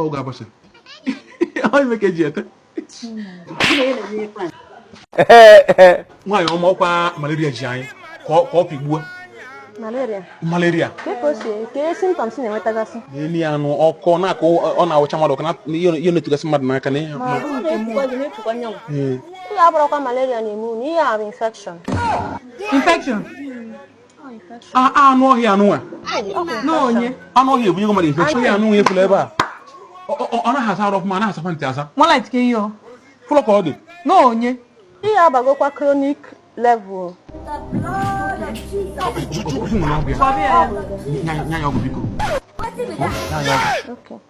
ọ ga-agbasa ọ ime ka eji ete nwaanyị ọma ọkwa malaria ji anyị ka ọ pịgbuo malaria malaria n'elu ya anụ ọkọ na-akọ ọ na-awụcha mmadụ ọkọ ihe na-etugasị mmadụ n'aka na ihe a abụrọkwa malaria na-eme unu ihe ahụ infection infection anụ ọhịa a nụnwa anụ ọhịa ebunye mmadụ infection ọhịa a nụnwa efula ebe a ọ naghị asa arụ ọfụma anaghị asakwa ntị asa fụlọ ka ọ dị n'onye ihe abagokwa chronic level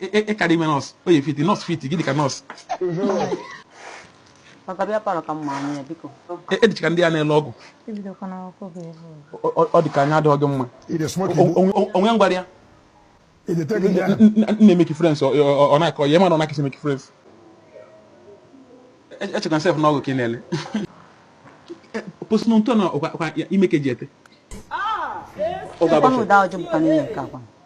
ị kara ime nurse ọ ya-fit nurse fit gị dịka nurse ị dịcha ka ndị a na-ele ọgwụ ọ dị ka anya adịghị gị mma o nwe ngwara ya na-emake friends ọ na-akọ ya mana ọ na-akịsị emake friends echeck yourself na ọgwụ ka ị na-ele posinu ntọ na ọkwa ime ka eji ete ọ ga-abụ